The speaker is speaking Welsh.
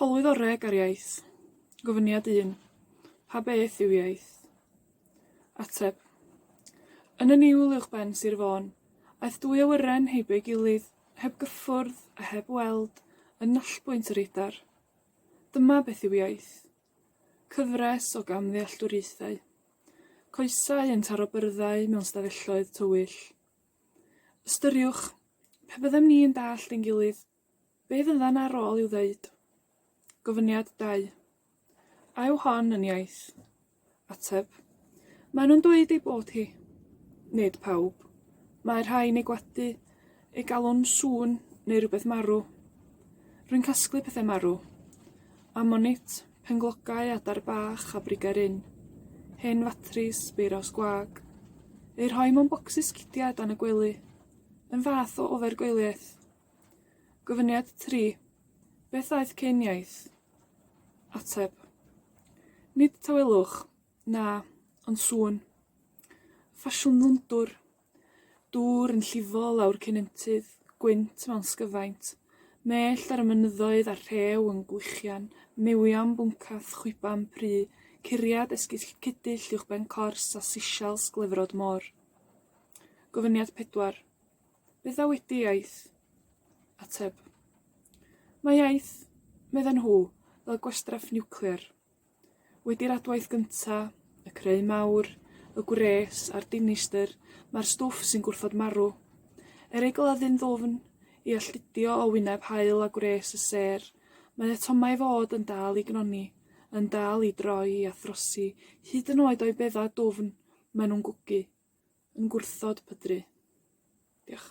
Hawlwyddoreg ar iaith. Gofyniad un, Pa beth yw iaith? Ateb, Yn y niwl uwchben Sir Fôn, aeth dwy awyren heibio'i gilydd, heb gyffwrdd, a heb weld, yn nallbwynt yr Eidar. Dyma beth yw iaith. Cyfres o gamddealltwriaethau. Coesau yn taro byrddau mewn stafelloedd tywyll. Ystyriwch, pe byddem ni'n dallt ein gilydd, Be' fyddan ar ôl i'w ddeud? Gofyniad dau. A yw hon yn iaith? Ateb, Mae nhw'n dweud ei bod hi. Nid pawb. Mae rhai'n ei gwadu, ei galw'n sŵn, neu rywbeth marw. Rwy'n casglu pethe marw. Amonit, penglogau, adar bach, a brigau'r ynn. Hen fatris, beiraws gwag. Eu rhoi mewn bocsys cidiau dan y gwely. Yn fath o ofer gwyliaeth. Gofyniad tri, Beth aeth cyn iaith? Ateb, Nid tawelwch, na, ond sŵn. Ffasiwn ddwndwr. Dŵr yn llifo lawr cennintydd, gwynt mewn sgyfaint, mellt ar y mynyddoedd a rhew yn gwichian, mewion bwncath, chwiban pru, curiad esgyll cudyll uwchben cors a sishels glefrod môr. Gofyniad pedwar. Beth a wedi iaith? Ateb. Mae iaith, medden nhw, fel gwastraff niwclear. Wedi'r adwaith gynta', y creu mawr, y gwres, a'r dinistr, mae'r stwff sy'n gwrthod marw. Er ei gladdu'n ddwfn, i alltudio o wyneb haul a gwres y sêr, mae atomau fod yn dal i gnoni, yn dal i droi a throsi, hyd yn oed o'i beddau dwfn, mae nhw'n gwgu. yn gwrthod pydru. Diolch.